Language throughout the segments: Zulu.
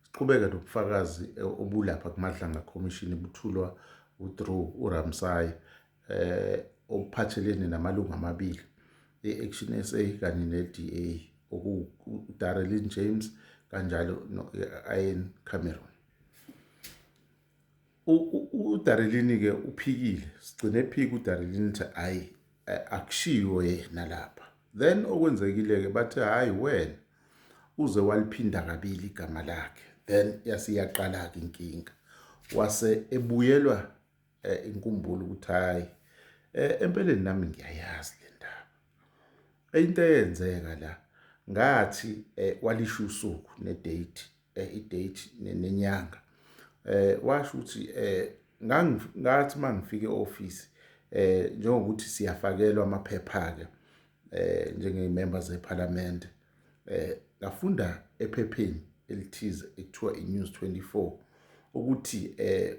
Siqhubeke nobufakazi eh, obulapha kuMadlanga Commission ibuthulwa uDrew uRamsay eh obuphathelene namalungu amabili e-Action SA kanye ne-DA okuDarrelin James kanjalo no-Ian Cameron. udarilini-ke uphikile sigcine ephika udarilini ukuthi hhayi akushiwo yena lapha then okwenzekile-ke bathe hhayi wena uze waliphinda kabili igama lakhe then yasiyaqala-ke inkinga wase ebuyelwa eh, inkumbulo ukuthi hhayi eh, empeleni nami ngiyayazi le ndaba into eyenzeka la ngathi eh, walisho usuku nedate eh, i-date nenyanga eh washo ukuthi eh ngathi mangifike office eh njengokuthi siyafakelwa amaphepha ke eh njengeyimember zeParliament eh ngafunda ephepheni elithize ekuthiwa iNews 24 ukuthi eh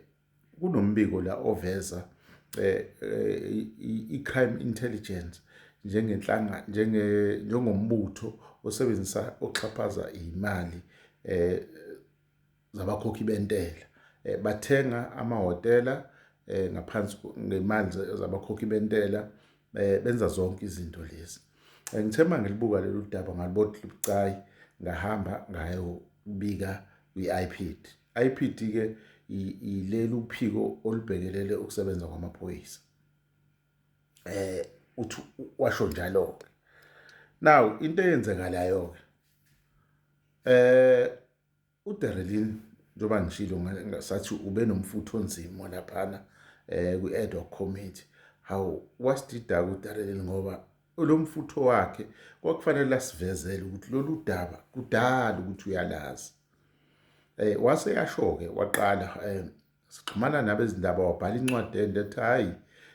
kunombiko la oveza eh, eh, i-crime intelligence njengenhlanga njenge njengombutho osebenzisa oxhaphaza imali eh zabakhokhi bentela eh, bathenga amahotela eh ngaphansi ngemali zabakhokhi bentela eh benza zonke izinto lezi eh, ngithe mangilibuka lolu daba ngalibothi libucayi ngahamba ngayobika kwi-IPID IPD ke yileli uphiko olubhekelele ukusebenza kwamaphoyisa eh uthi washo njalo ke now into eyenzekalayo ke eh uDerelin njengoba ngishilo ngasathi ube nomfutho onzima laphana eh kwi-ad hoc committee how wasidida uDerelin ngoba olomfutho wakhe kwakufanele asivezele ukuthi lolu daba kudala ukuthi uyalazi eh wase yashoke waqala eh sixhumana nabezindaba wabhala incwadi ende ethi hayi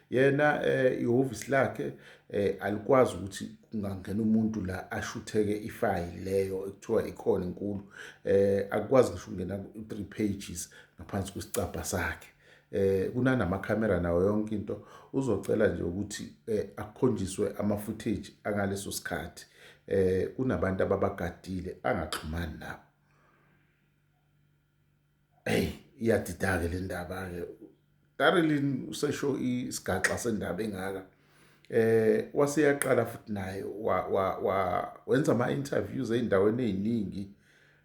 yena eh ihhovisi lakhe eh alikwazi ukuthi kungangena umuntu la ashutheke ifayili leyo ekuthiwa ikhona inkulu eh akwazi ngisho ukungena ku-3 pages ngaphansi kwesicabha sakhe eh kunanama camera nawo yonke into uzocela nje ukuthi eh, akukhonjiswe ama footage angaleso sikhathi eh kunabantu ababagadile angaxhumani nabo hey iyadidake le ndaba ke Darilin usesho isigaxa sendaba engaka eh waseyaqala futhi naye wa wa wenza ama interviews eindaweni eziningi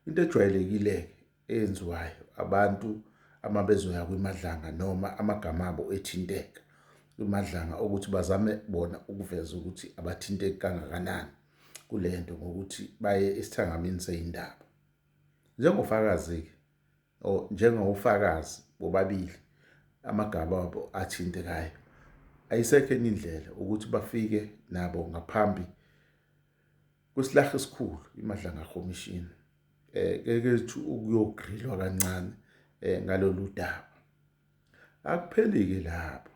into ejwayelekile eyenziwayo abantu ama bezoya kwimadlanga noma amagama abo ethinteka kwimadlanga ukuthi bazame bona ukuveza ukuthi abathinteki kangakanani kule nto ngokuthi baye esithangamini seyindaba njengofakazi-ke njengofakazi bobabili amagama abo athintekayo ayisekho enye indlela ukuthi bafike nabo ngaphambi kwesilaha esikhulu imadlanga commission eh kekethu ukuyogrilwa kancane eh ngalolu daba akuphelike lapho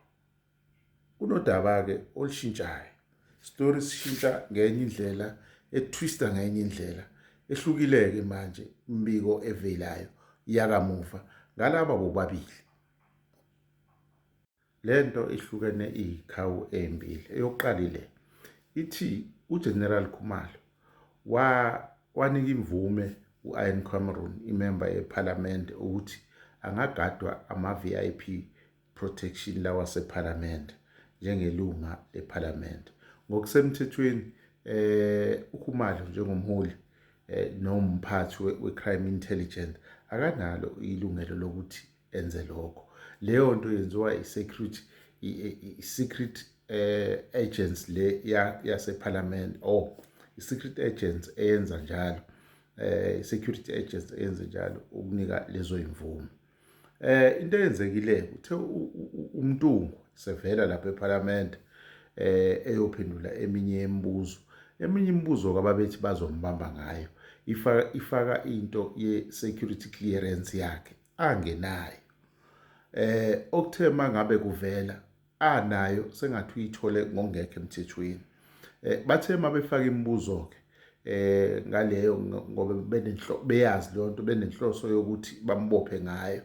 kunodaba ke olushintshayo story sishintsha ngenye indlela etwister ngenye indlela ehlukileke manje imbiko evelayo yakamuva ngalaba bobabili Lento ihlukene iyikhawu ezimbili eyokuqala ile ithi uGeneral Khumalo wa wanika imvume u-Ian Cameron imemba yePhalamende ukuthi angagadwa ama-VIP protection lawa sePhalamende njengelunga lePhalamende ngokusemthethweni eh uKhumalo njengomholi eh nomphathi we-crime intelligence akanalo ilungelo lokuthi enze lokho leyo nto yenziwa i-secret i-secret eh, agents le yasephalamende ya oh i-secret agents eyenza njalo eh i-security agents eyenze njalo ukunika lezo imvume eh into eyenzekile uthe umntungu sevela lapha ephalamende eh eyophendula eminye imibuzo eminye imibuzo kababethi bazombamba ngayo ifaka ifaka into ye security clearance yakhe angenayo eh okuthe mangabe kuvela anayo sengathi uyithole ngongekho emthethweni eh bathe mabefaka imibuzo ke eh ngaleyo ngoba benenhlo beyazi lonto benenhloso yokuthi bambophe ngayo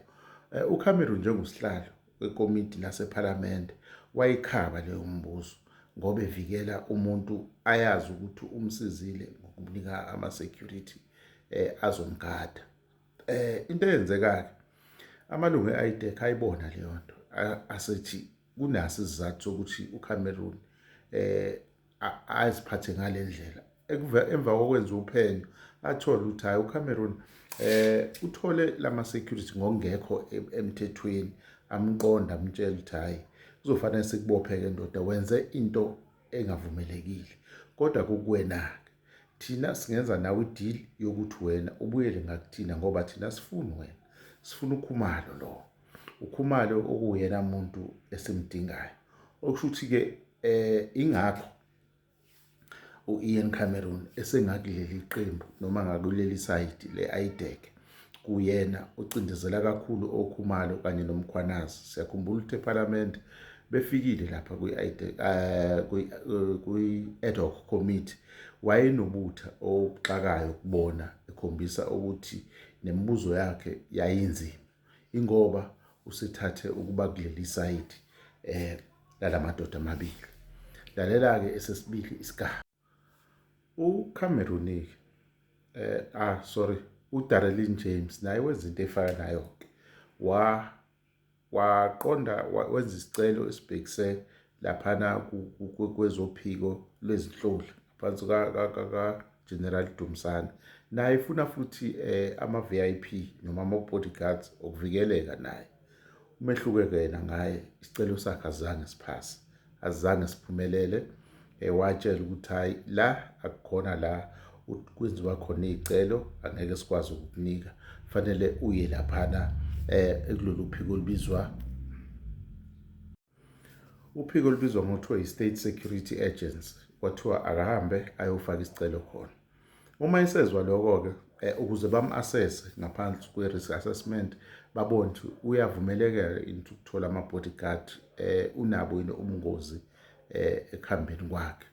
eh, uCameron njengoSihlalo wekomiti lasePhalamende wayikhaba leyo mbuzo ngoba evikela umuntu ayazi ukuthi umsizile ngokumnika ama security eh azomgada eh into eyenzekayo amalungu eITEC ayibona leyo nto asethi kunaso isizathu sokuthi uCameroon eh aziphathe ngalendlela emva kokwenza uphenyo athola ukuthi hayi uCameroon eh uthole lama security ngokungekho emthethweni amqonda amtshela ukuthi hayi kuzofanele sikubophe ke ndoda wenze into engavumelekile kodwa kukuwena ke Thina singenza nawe ideal yokuthi wena ubuyele ngakuthina ngoba thina sifuni wena. Sifuna ukhumalo lo. Ukhumalo okuyena muntu esimdingayo. Okusho ukuthi ke eh ingakho uIan Cameron esengakuleli qembu noma ngakuleli side leIdeke. kuyena ocindezela kakhulu okhumalo kanye nomkhwanazi siyakhumbula ukuthi ephalamende befikile lapha eh, kwi-ad hoc committee wayenobutha obuxakayo kubona ekhombisa ukuthi nemibuzo yakhe yayinzima ingoba usethathe ukuba kuleli sayidi um eh, lalamadoda amabili lalela-ke esesibili isigaba uCameroonic eh ah sorry uDarelin James naye wenza into efana nayo ke wa waqonda wenza isicelo esibhekise laphana kwezophiko lwezinhloli phansi ka General Dumsana naye ifuna futhi eh ama VIP noma ama bodyguards okuvikeleka naye umehluke kuyena ngaye isicelo sakhe azange siphase azange siphumelele ewatshela eh, ukuthi hayi la akukhona la kwenziwa khona iy'celo angeke sikwazi ukukunika fanele uye laphana um ekulolu phiko olubizwa uphiko olubizwa ngokuthiwa yi-state security agency kwathiwa akahambe ayofaka isicelo khona uma esezwa lokho-ke eh, ukuze bamu-assese ngaphansi kwe-risk assessment babone ukuthi uyavumelekela into ukuthola ama-bodyguard um unabo yini ubungozi um ekuhambeni kwakhe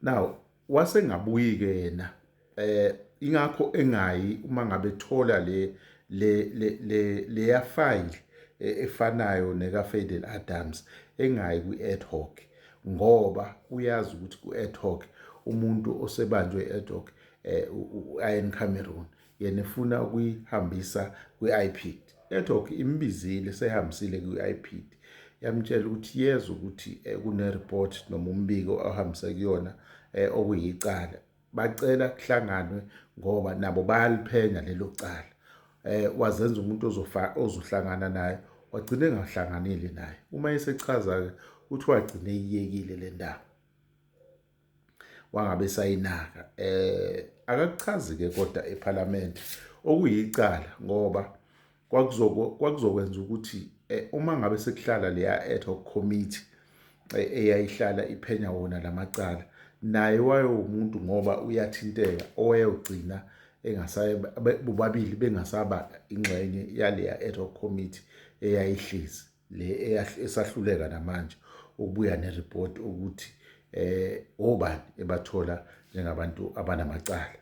now wasengabuyike yena eh ingakho engayi uma ngabe thola le le le le ya file e, efanayo neka Fadel Adams engayi kwi ad hoc ngoba uyazi ukuthi ku ad hoc umuntu osebanjwe ad hoc eh ayen Cameroon yena efuna ukuyihambisa kwi-IPID network imbizile sehambisile kwi-IPID yamtshela ukuthi yezwa ukuthi eh, kunereport noma umbiko ohambise kuyona eh, okuyicala bacela kuhlanganwe ngoba nabo bayaliphenya lelo cala eh wazenza umuntu ozofa ozohlangana naye wagcina engahlanganile naye uma esechaza ke uthi wagcina eyiyekile le ndaba wangabe sayinaka eh akakuchazi ke kodwa eParliament okuyicala ngoba kwakuzokwenza ukuthi eh, uma ngabe sekuhlala leya ad hoc committee eh, eyayihlala iphenya wona lamacala naye wayewumuntu ngoba uyathinteka owayewugcina engasaye bobabili bengasaba ingxenye yaleya ad hoc committee eyayihlezi le esahluleka namanje ukubuya nereport ukuthi eh obani ebathola njengabantu abanamacala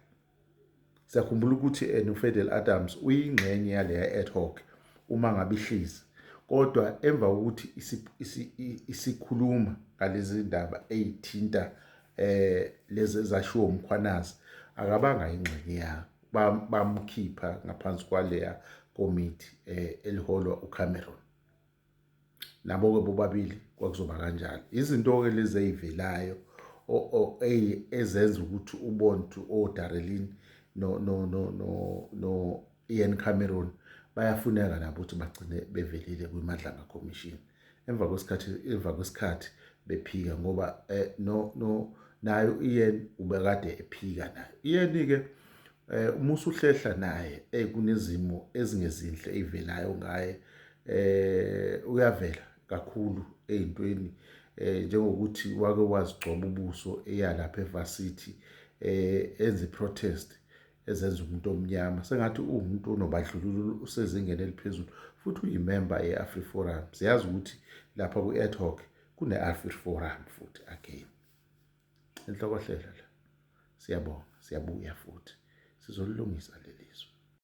siyakhumbula ukuthi eh, noFedel Adams uyingxenye yaleya ad hoc uma ngabe ihlisi kodwa emva kokuthi isikhuluma ngalezi ndaba eyithinta eh lezi ezashiwo umkhwanazi akabanga ingxenye yakho bamkhipha ba ngaphansi kwaleya komiti eh, eliholwa uCameron nabo-ke bobabili kwakuzoba kanjalo izinto-ke lezi ey'velayo ezenza ukuthi ubontu odarelin no-ian cameron bayafuneka nabo ukuthi bagcine bevelile kwimadlanga commission emva kwesikhathi emva kwesikhathi bephika ngoba eh, no no nayo iyen ubekade ephika nayo iyeni ke eh uma usuhlehla naye eh kunezimo ezingezinhle evelayo ngaye eh uyavela kakhulu ezintweni eh njengokuthi wake wazigcoba ubuso eyalapha eVarsity eh enze protest ezenza umuntu omnyama sengathi uwumuntu onobandlululo usezingeni eliphezulu futhi uyimemba ye-afriforum siyazi ukuthi lapha kwi-ad hoc kune-afriforum futhi again enhlokohlela la siyabonga siyabuya futhi sizolilungisa leli zwe